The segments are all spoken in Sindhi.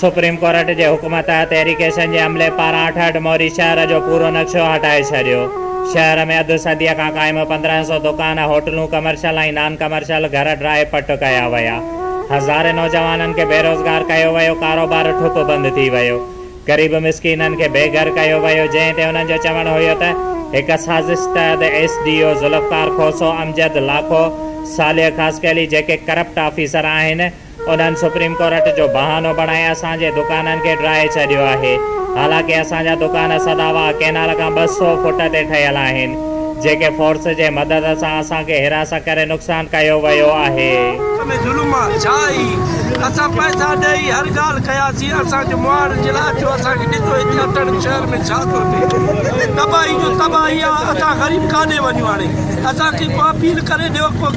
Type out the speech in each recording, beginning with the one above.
سپريم ڪورٽ جي حڪم تحت ايريگيشن جي عملي پاران اٺهٺ موري شهر جو پورو نقشو هٽائي ڇڏيو. شهر ۾ اڌ صديء کان قائم پندرهن سؤ دڪان، هوٽلون، ڪمرشل ۽ نان ڪمرشل گهر ڊرائي پٽ ڪيا ويا. هزارين نوجوانن کي بيروزگار ڪيو ويو، ڪاروبار ٺپ بند ٿي ويو. غريب مسڪينن کي بي گهر ڪيو ويو، جنهن تي انهن جو چوڻ هيو ته هڪ سازش تحت S D O Zulfiqar Khoso, Amjad Lakho, Saleh Khaskheli جيڪي ڪرپٽ آفيسر آهن، انهن سپريم ڪورٽ جو بهانو بڻائي اسان جي دڪانن کي ڊاهي ڇڏيو آهي، حالانڪه اسان جا دڪان سدا واهه ڪينال کان ٻه سؤ فوٽ تي ٺهيل آهن، جيڪي فورس جي مدد سان اسان کي حراست ڪري نقصان ڪيو ويو آهي. ملڪ ۾ ظلم آ ڇا هي اسان پئسا ڏئي هر ڳالهه ڪياسين اسان کي مهاڙن جي لاء اچو اسان کي ڏسو هتي اٽڙن شهر ۾ ڇا ٿو ٿئي تباهي جو تباهي آ اسان غريب ڪاڏي وڃون هاڻي اسان کي ڪو اپيل ڪري ڏيو ڪو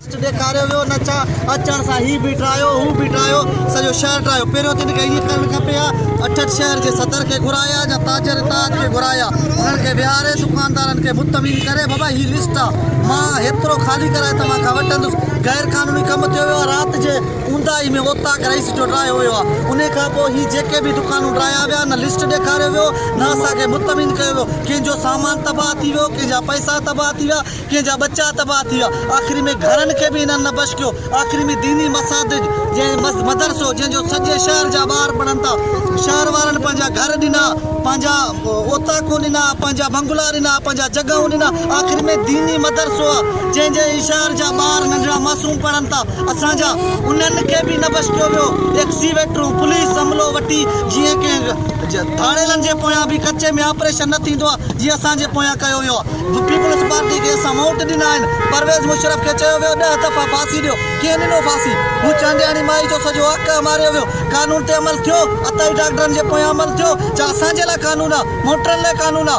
ٽيسٽ ڏيکاريو ويو نه ڇا اچڻ سان هي به ڊرايو هو به ڊرايو سڄو شهر ڊرايو پهريون تن کي ائين ڪرڻ کپي ها اٺٽ شهر جي صدر کي گهرايا جا تاجر اتحاد کي گهرايا انهن کي ويهاري دڪاندارن کي مطمئن ڪري بابا هي لسٽ آ مان هيترو خالي ڪرائي توهان کان وٺندس غير قانوني ڪم ٿيو ويو آ رات جي اونداهي ۾ اوطاق رئيس جو ڊرايو ويو آ انهي کان پوء هي جيڪي به دڪانون ڊرايا ويا نه لسٽ ڏيکاريو ويو نه اسان کي مطمئن ڪيو ويو ڪنهن جو سامان تباهه ٿي ويو ڪنهن جا پئسا تباهه ٿي ويا ڪنهن جا ٻچا تباهه ٿي ويا. آخري ۾ گهرن کي به انهن نه بشڪيو. آخري ۾ ديني مساجد جنهن مدرسو جنهن جو سڄي شهر جا ٻار پڙهن ٿا. شهر وارن پنهنجا گهر ڏنا، پنهنجا اوطاقون ڏنا، پنهنجا بنگلا ڏنا، پنهنجا جڳهون ڏنا، آخري ۾ ديني مدرسو آ جنهن جي هي شهر جا ٻار ننڍڙا معصوم پڙهن ٿا. اسان جا انهن کي به نه بشڪيو ويو. ايڪسيويٽرون، پوليس عملو وٺي جيئن ڪنهن ڌاڙيلن جي پويان به ڪچي ۾ آپريشن نه ٿيندو آ جيئن اسان جي پويان ڪيو ويو آ. جو پيپلز پارٽي کي اسان ووٽ ڏنا آهن، پرويز مشرف کي چيو ويو ڏهه دفعا ڦاسي ڏيو، ڪنهن ڏنو ڦاسي؟ هو چانڊياڻي مائي جو سڄو حق اماريو ويو، قانون تي عمل ٿيو، عطائي ڊاڪٽرن جي پويان عمل ٿيو، جا اسان جي لاء قانون آ، موٽرن لاء قانون آ،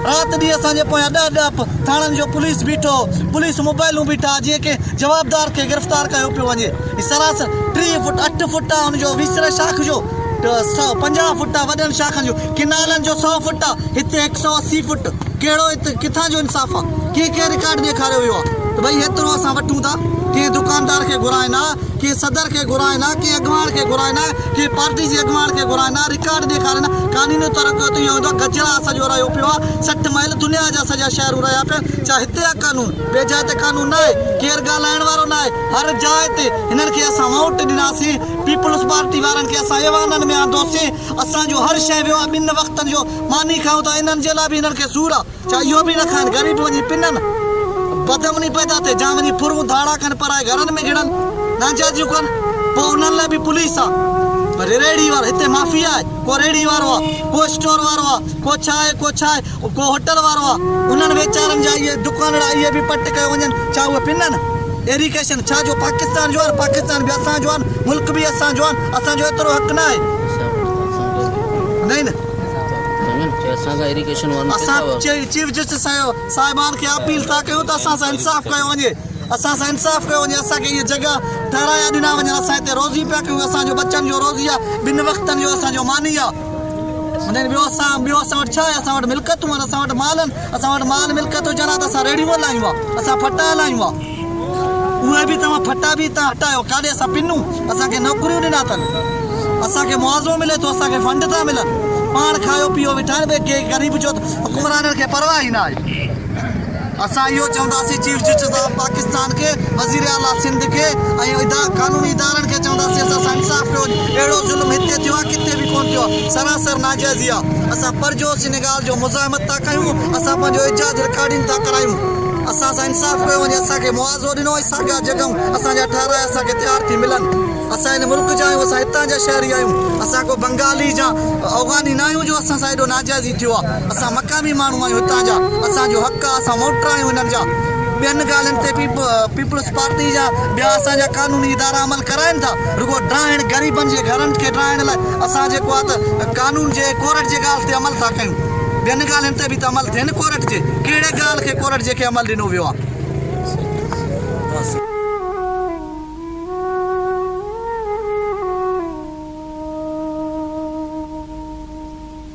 رات ڏينهن اسان جي پويان ڏهه ڏهه پ ٿاڻن جو پوليس بيٺو، پوليس موبائلون بيٺا، جيئن ڪنهن جوابدار کي گرفتار ڪيو پيو وڃي، هي سراسر ٽيهه فوٽ اٺ فوٽ آ، ان جو ويسري شاخ جو سؤ پنجاهه فوٽ آ، وڏن شاخن جو ڪئنالن جو سؤ فوٽ آ، هت هڪ سئو اسي فوٽ ڪهڙو هت ڪٿان جو انصاف آ ڪنهن ڪنهن رڪارڊ ڏيکاريو ويو آ ته ڀئي هيترو اسان وٺون ٿا ڪنهن دڪاندار کي گهرائين آ ڪنهن صدر کي گهرائين آ ڪنهن اڳواڻ کي گهرائين آ ڪنهن پارٽي جي اڳواڻ کي گهرائين آ رڪارڊ ڏيکارين آ قانوني طور ڪيو ته ايئن هوندو آ گجراء سڄو رهيو پيو آ سٺ مئل دنيا جا سڄا شهرون رهيا پيا آهن ڇا هتي آ قانون ٻي جاء تي قانون نه آهي ڪير ڳالهائڻ وارو نه آهي هر جاء تي هنن کي اسان ووٽ ڏناسين پيپلز پارٽي وارن کي اسان ايوانن ۾ آندوسين اسان جون هر شيء ويو آهي ٻن وقتن جو ماني کائون ٿا انهن جي لاء به هنن کي سور آهي ڇا اهو به نه کائن غريب وڃي پنن بدامني پيدا ٿئي جا وڃي ڦرون ڌاڙا ڪن پرائي گهرن ۾ گهڙن ناجائزيون ڪن پوء انهن لاء به پوليس آهي وري ريڙهي وارا هتي مافيا آهي ڪو ريڙهي وارو آهي ڪو اسٽور وارو آهي ڪو ڇا آهي ڪو ڇا آهي. ڪو هوٽل وارو آ انهن ويچارن جا اهي دڪانڙا اهي به پٽ ڪيو وڃن ڇا اهي پنن ايريڪيشن ڇا جو پاڪستان جو آن پاڪستان به اسان جو آن ملڪ به اسان جو آن اسان جو ايترو حق نه آهي نئين اسان چيف جسٽس صاحبان کي اپيل ٿا ڪيون ته اسان سان انصاف ڪيو وڃي اسان سان انصاف ڪيو وڃي اسان کي اهي جڳا ٺهرايا ڏنا وڃن اسان هتي روزي پيا ڪيون اسان جو ٻچن جو روزي آ ٻن وقتن جو اسان جو ماني آ هن ٻيو اسان ٻيو اسان وٽ ڇا آهي اسان وٽ ملڪتون آهن اسان وٽ مال آهن اسان وٽ مال ملڪت هجن ها ته اسان ريڙهيون هلايون ها اسان ڦٽا هلايون ها اهي به توهان ڦٽا به هتان هٽايو ڪاڏي اسان پنون اسان کي نوڪريون ڏنا اٿن اسان کي معاوضو ملي ٿو اسان کي فنڊ ٿا ملن پاڻ کايو پيو ويٺا آهن ڪي غريب جو حڪمرانن کي پرواهه ئي نه آهي اسان اهو چونداسين چيف جسٽس آف پاڪستان کي، وزير اعليٰ سنڌ کي ۽ قانوني ادارن کي چونداسين اسان سان انصاف ڪيو، اهڙو ظلم هتي ٿيو آهي ڪٿي به ڪونه ٿيو آهي، سراسر ناجائزي آهي، اسان پرجوش ان ڳالهه جو مزاحمت ٿا ڪيون، اسان پنهنجو احجاج رڪارڊنگ ٿا ڪرايون، اسان سان انصاف ڪيو وڃي، اسان کي معاوضو ڏنو وڃي، ساڳيا جڳهون اسان جا ٺهرايا اسان کي تيار ٿي ملن، اسان هن ملڪ جا آهيون، اسان هتان جا شهري آهيون، اسان ڪو بنگالي يا اوغاني ناهيون جو اسان سان ايڏو ناجائز. ٿيو آ اسان مقامي ماڻهو آهيون هتان جا اسان جو حق آ اسان ووٽر آهيون هنن جا ٻين ڳالهين تي پيپلز پارٽي جا ٻيا اسان جا قانوني ادارا عمل ڪرائين ٿا رڳو ڊاهڻ غريبن جي گهرن کي ڊاهڻ لاء اسان جيڪو آ ته قانون جي ڪورٽ جي ڳالهه تي عمل ٿا ڪيون ٻين ڳالهين تي به ته عمل ٿين ڪورٽ جي ڪهڙي ڳالهه کي ڪورٽ جي کي عمل ڏنو ويو آ.